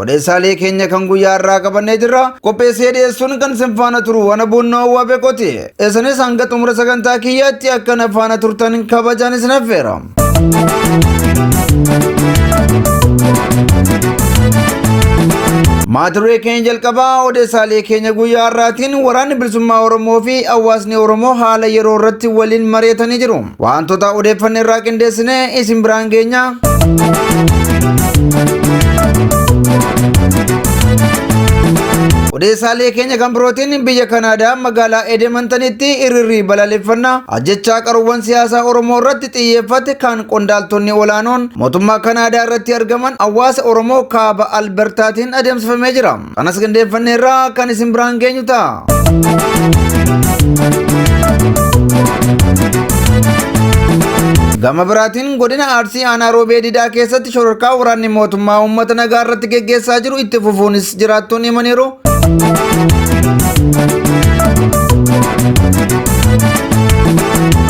Odeessaalee keenya kan guyyaa irraa qabannee jirra. Qopheessee dhiyeessuun kan sin faana turu waan boonnoo hawwaa beekoti. Isinis hanga xumura sagantaa kiyyaatti akka na faana turtan kabajaan isin affeera. Maaturee keenya jalqabaa odeessaalee keenya guyyaa har'aatiin waraanni bilisummaa Oromoo fi hawaasni Oromoo haala yeroo irratti waliin mari'atanii jiru. Wantoota odeeffanne irraa qindeessine isin biraan geenya. Odeessaalee keenya kan birootiin biyya Kanaadaa magaalaa Edemantanitti hiriirri balaaleffannaa ajjechaa qaruuwwan siyaasaa Oromoo irratti xiyyeeffate kan qondaaltonni olaanoon mootummaa Kanaadaa irratti argaman hawaasa Oromoo kaaba Albertaatiin adeemsifamee jira. Kanas qindeeffanneerraa kan isin biraan geenyu ta'a. Gama biraatiin godina Arsii aanaa Roobee Didaa keessatti shororkaa waraanni mootummaa uummata nagaa irratti geggeessaa jiru itti fufuunis jiraattoon himaniiru.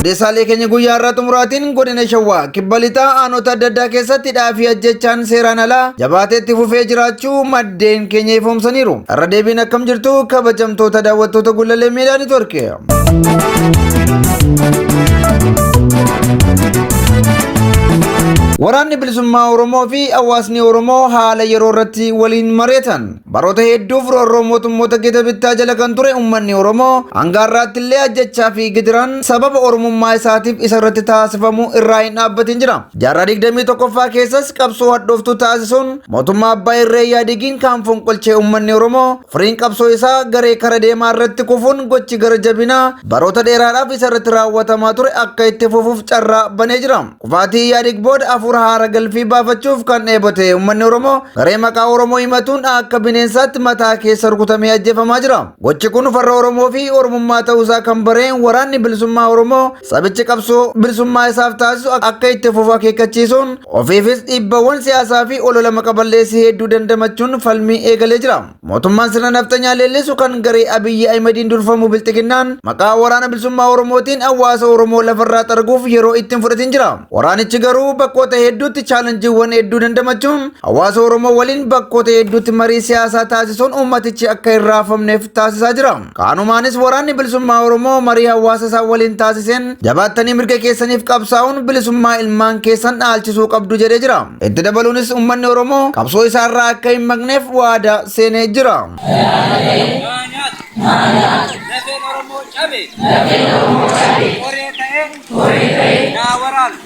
Odeessaalee keenya guyyaa irraa xumuraatiin godina Shawaa kibba lixaa aanota adda addaa keessatti dhaafii ajjechaan seeraan alaa jabaateetti fufee jiraachuu jechuu maddeen keenya ifoomsaniiru. Irra deebiin akkam jirtu kabajamtoota daawwattoota Gullallee Miidiyaa Niitoorki. Waraanni bilisummaa Oromoo fi hawaasni Oromoo haala yeroo irratti waliin mari'atan baroota hedduuf roorroo mootummoota gita bittaa jala kan ture uummanni Oromoo hanga har'aatti illee ajjechaa fi gidiraan sababa Oromummaa isaatiif isa irratti taasifamu irraa hin dhaabbatin jira. Jaarraa 21ffaa keessas qabsoo hadhooftuu taasisuun Mootummaa abbaa irree yaadigiin kaan fonqolchee uummanni Oromoo firiin qabsoo isaa garee kara deemaa irratti kufuun gochi gara jabinaa baroota dheeraadhaaf isa irratti raawwatamaa ture akka itti fufuuf carraa banee jira. Kufaatii yaadig booda hafuura haara galfii baafachuuf kan dheebote uummanni Oromoo garee maqaa Oromoo himatuun akka bineensaatti mataa keessa rukutamee ajjeefamaa jira. Gochi kun farra Oromoo fi Oromummaa ta'uusaa kan bareen waraanni bilisummaa Oromoo Sabichi qabsoo bilisummaa isaaf taasisu akka itti fufu akeekkachiisuun ofiifis dhiibbawwan siyaasaa fi olola maqa balleessii hedduu dandamachuun falmii eegalee jira. Mootummaan sirna nafxanyaa leellisu kan garee Abiyyi Ahimadiin durfamu bilxiginnaan maqaa waraana bilisummaa Oromootiin hawaasa Oromoo lafarraa xarguuf yeroo ittiin fudhatiin jira. Waraanichi garuu bakkoota hedduutti chaalanjiiwwan hedduu dandamachuun hawaasa Oromoo waliin bakkoota hedduutti marii siyaasaa taasisuun uummatichi akka hin raafamneef taasisaa jira. Kaanumaanis waraanni bilisummaa Oromoo marii hawaasa isaa waliin taasiseen jabaattanii mirga keessaniif qabsaa'uun bilisummaa ilmaan keessan dhaalchisuu qabdu jedhee jira. Itti dabaluunis uummanni Oromoo qabsoo isaa irraa akka hin maqneef waadaa seenee jira. Lafeen Oromoo cabe. Koree ta'ee. Naa waraana.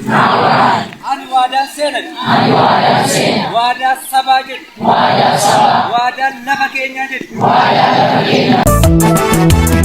Ani waadaan seenan. Waadaa sabaa jedhu. Waadaan sabaa. Waadaan lafa keenyaa jedhi. Waadaan lafa keenyaa.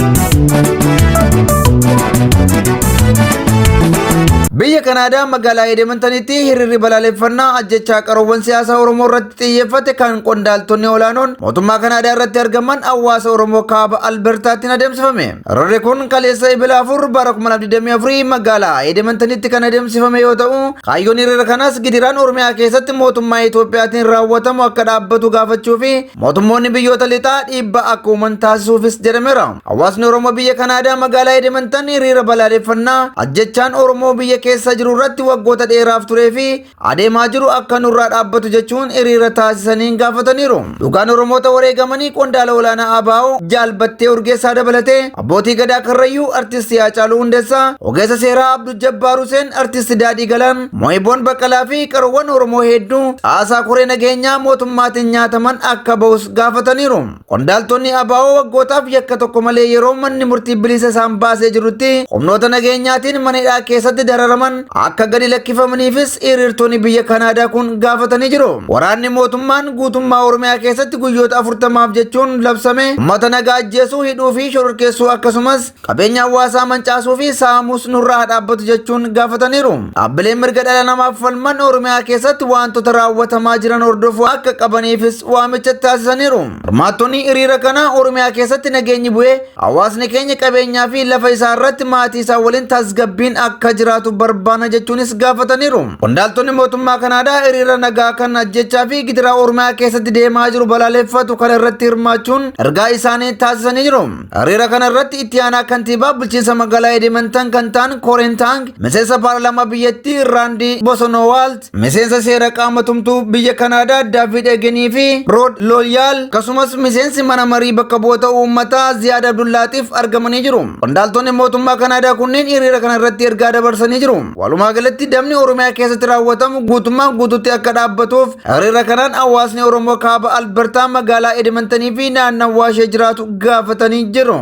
Biyya Kanaadaa magaalaa Edemantanitti hiriirri balaaleffannaa ajjechaa qaroowwan siyaasaa Oromoo irratti xiyyeeffate kan qondaaltonni olaanoon mootummaa Kanaadaa irratti argaman hawaasa Oromoo kaaba Albertaattiin adeemsifame. Karoorri kun kaleessa Ebila 4 bara 2024 magaalaa Edemantanitti kan adeemsifame yoo ta'u, kaayyoon hiriira kanas gidiraan Oromiyaa keessatti mootummaa Itoophiyaatiin raawwatamu akka dhaabbatu gaafachuu fi mootummoonni biyyoota lixaa dhiibbaa akka uuman taasisuufis jedhameera. Hawaasni Oromoo biyya Kanaadaa magaalaa Edemantan hiriira balaaleffannaa ajjechaan Oromoo biyya keessa jiru irratti waggoota dheeraaf turee fi adeemaa jiru akka nurraa dhaabbatu jechuun hiriira taasisaniin gaafataniiru. Dhugaan Oromoota wareegamanii qondaala olaanaa ABO Jaal Battee Urgeessaa dabalatee abbootii gadaa Karrayyuu artisti Haacaaluu Hundeessaa, ogeessa seeraa Abdul Jabbaar Huseen, artisti Daadhii Galaan, Mo'iboon Baqqalaa fi qaroowwan Oromoo hedduu caasaa koree nageenyaa mootummaatiin nyaataman akka bahus gaafataniiru. Qondaaltonni ABO waggootaaf yakka tokko malee yeroo manni murtii bilisa isaan baasee jirutti humnoota nageenyaatiin mana hidhaa keessatti dararaman akka gadi lakkifamaniifis hiriirtonni biyya Kanaadaa kun gaafatanii jiru. Waraanni mootummaan guutummaa Oromiyaa keessatti guyyoota afurtamaaf jechuun labsame uummata nagaa ajjeesuu, hidhuu fi shororkeessuu akkasumas Qabeenya hawaasaa mancaasuu fi saamuus nurraa haa dhaabbatu jechuun gaafataniiru. Dhaabbileen mirga dhala namaaf falman Oromiyaa keessatti waantota raawwatamaa jiran hordofuu akka qabaniifis waamicha taasisaniiru. Hirmaattonni hiriira kanaa Oromiyaa keessatti nageenyi bu'ee hawaasni keenya qabeenyaa fi lafa isaa irratti maatii isaa waliin tasgabbiin akka jiraatu barbaana jechuunis gaafataniiru. Qondaaltonni mootummaa Kanaadaa hiriira nagaa kan ajjechaa fi gidiraa Oromiyaa keessatti deemaa jiru balaaleffatu kana irratti hirmaachuun ergaa isaanii taasisanii jiru. Hariira kana irratti itti aanaa kantiibaa bulchiinsa magaalaa Edimantan kan ta'an Koreen Taang, miseensa paarlaamaa biyyattii Raandii Bosonowaalt, miseensa seera qaama tumtuu biyya Kanaadaa Daavid Egenii fi Rood Lolyaal, akkasumas miseensi mana marii bakka bu'oota uummataa Ziyaad Abdullaatiif argamanii jiru. Qondaaltonni mootummaa Kanaadaa kunneen hiriira kana irratti ergaa dabarsanii jiru. Walumaa galatti dabni Oromiyaa keessatti raawwatamu guutummaan guututti akka dhaabbatuuf Hiriira kanaan hawaasni Oromoo kaaba Albertaa magaalaa Edimantanii fi naannawaa ishee jiraatu gaafatanii jiru.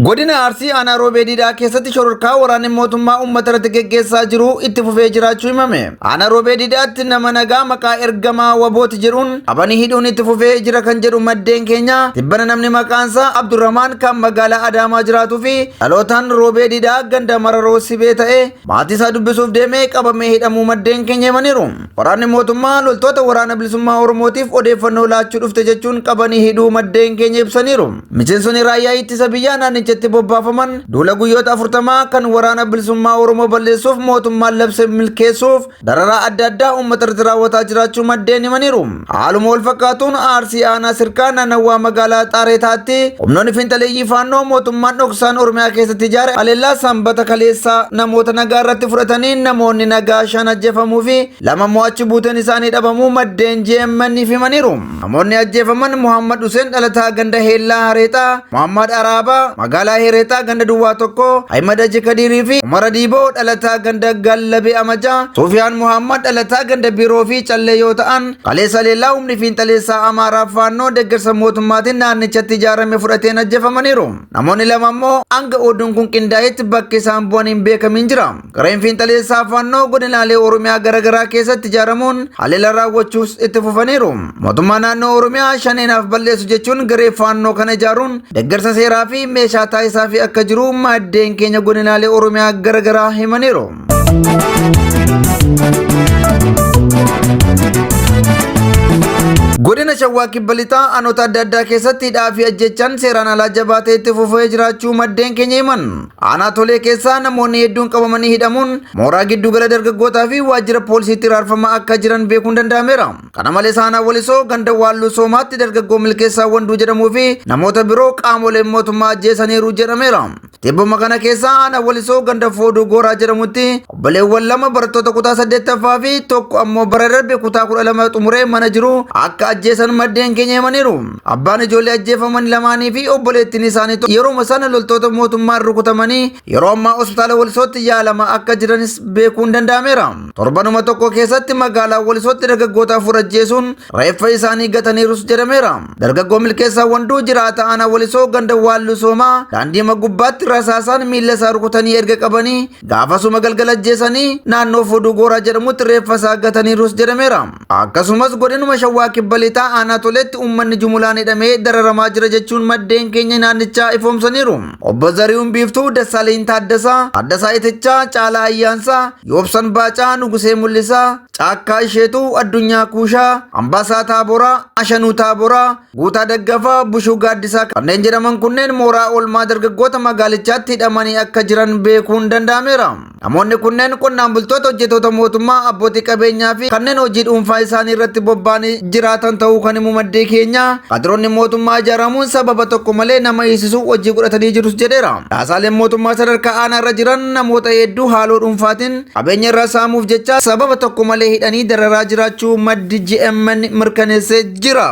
Godina Arsii aanaa Roobeediidhaa keessatti shororkaa waraanni mootummaa uummata irratti geggeessaa jiru itti fufee jiraachuu himame. Aanaa Roobee Didaatti nama nagaa maqaa ergamaa wabooti jedhuun qabanii hidhuun itti fufee jira kan jedhu maddeen keenya tibbana namni maqaansaa Abdurrahmaan kan magaalaa Adaamaa jiraatuu fi dhalootaan Roobee Didaa ganda Mararoo Sibee ta'e maatii isaa dubbisuuf deemee qabamee hidhamuu maddeen keenya himaniiru. Waraanni mootummaa loltoota waraana bilisummaa Oromootiif odeeffannoo laachuu dhufte jechuun qabanii hidhuu maddeen keenya ibsaniiru. Miseensonni raayyaa ittisa biyyaa naannichatti bobbaafaman duula guyyoota afurtamaa kan waraana bilisummaa Oromoo balleessuuf mootummaan labse milkeessuuf dararaa adda addaa uummata irratti raawwataa jiraachuu maddeen himaniiru. Haaluma wal fakkaatuun Arsii Aanaa Sirkaa naannawaa magaalaa Xaareetaatti humnoonni fiinxaleeyyii faannoo mootummaan dhoksaan Oromiyaa keessatti ijaare haleellaa sanbata kaleessaa namoota nagaa irratti fudhatanii namoonni nagaa shan ajjeefamuu fi lama immoo achi buuteen isaanii dhabamuu maddeen GMN himaniiru. Namoonni ajjeefaman Muhammad Huseen dhalataa ganda Heellaa Hareexaa, Muhammad Araabaa magaalaa Hereexaa ganda Duwwaa tokko, Ahimad Haji Kadiirii fi Umar Adiiboo dhalataa ganda Gallabee Amajaa, Suufiyaan Muhammad dhalataa ganda Biroo fi Callee yoo ta'an, kaleessa leellaa humni fiinxaleessaa Amaaraa Faannoo deeggarsa mootummaatiin naannichatti ijaarame fudhateen ajjeefamaniiru. Namoonni lama immoo hanga oduun kun qindaa'etti bakki isaan bu'an hin beekamiin jira. Gareen fiinxaleessaa Faannoo godinaalee Oromiyaa garaagaraa keessatti ijaaramuun haleela raawwachuus itti fufaniiru. Mootummaa naannoo Oromiyaa shaneenaaf balleessu jechuun garee Faannoo kana ijaaruun deeggarsa seeraa fi meeshaa taasisaa fi akka jiru maddeen keenya godinaalee Oromiyaa garaagaraa himaniiru. Godina Shawaa Kibba Lixaa aanota adda addaa keessatti hidhaa fi ajjechaan seeraan alaa jabaatee itti fufee jiraachuu maddeen keenya himan. Aanaa tolee keessaa namoonni hedduun qabamanii hidhamuun mooraa giddugala dargaggootaa fi waajjira poolisiitti raarfamaa akka jiran beekuun danda'ameera. Kana malees aanaa walisoo ganda waalluu soomaatti dargaggoo milkeessaa wanduu jedhamuu fi namoota biroo qaamoleen mootummaa ajjeesaniiru jedhameera. Tibbuma kana keessaa aanaa walisoo ganda fooduu gooraa jedhamutti obboleewwan lama barattoota kutaa saddeettaffaa fi tokko ammoo bara darbe kutaa kudha lama xumuree mana jiru akka ajjeesan maddeen keenya himaniiru. Abbaan ijoollee ajjeefaman lamaanii fi obboleettiin isaanii tokko yeroo sana loltoota mootummaan rukutamanii yeroo ammaa hospitaala Walisootti yaalamaa akka jiranis beekuun danda'ameera. Torbanuma tokko keessatti magaalaa Walisootti dargaggoota afur ajjeesuun reeffa isaanii gataniirus jedhameera. Dargaggoo milkeessaa wanduu jiraata aanaa Walisoo ganda waalluu soomaa daandii gubbaatti rasaasaan miila isaa rukutanii erga qabanii gaafasuma galgala ajjeesanii naannoo fuduu gooraa jedhamutti reeffa isaa gataniirus jedhameera. Akkasumas godinuma Shawaa Kibba Lixaa Aanaa Toleetti uummanni jumulaan hidhamee dararamaa jira jechuun maddeen keenya naannichaa ifoomsaniiru. Obbo Zarihuun Biiftuu, Dassaaleny Taaddasaa, Taaddasaa Itichaa, Caalaa Ayyaansaa, Yoobsan Baacaa, Nugusee Mul'isaa, Caakkaa Isheetuu, Addunyaa Kuushaa, Ambaasaa Taaboraa, Ashanuu Taaboraa, Guutaa Daggafaa, Bushuu Gaaddisaa kanneen jedhaman kunneen mooraa oolmaa dargaggoota magaalichaatti hidhamanii akka jiran beekuun danda'ameera. Namoonni kunneen qonnaan bultoota hojjetoota mootummaa abbootii qabeenyaa fi kanneen hojii dhuunfaa isaanii irratti bobba'anii jiraatan ta'uu kan himu maddee keenya kadiroonni mootummaa ijaaramuun sababa tokko malee nama hiisisu hojii godhatanii jirus jedheera. Dhaasaaleen mootummaa sadarkaa aanaa irra jiran namoota hedduu haaloo dhuunfaatiin qabeenya irraa saamuuf jecha sababa tokko malee hidhanii dararaa jiraachuu maddi GMN mirkaneessee jira.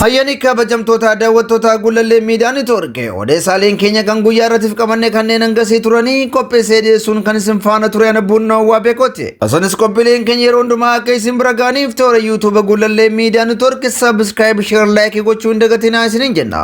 Hayyanii kabajamtoota daawwattoota Gullallee Miidiyaa Neetwoorkii odeessaaleen keenya kan guyyaa irratti qabanne kanneen hangasii turanii qopheessee dhiyeessuun kan isin faana ture ana buunnaa waa beekooti. Osonis qophiileen keenya yeroo hundumaa akka isin bira gaaniif toora yuutuuba Gullallee Miidiyaa Neetwoorkii sabiskiraayib sheer laayikii gochuu hin dagatinaa isiniin jenna.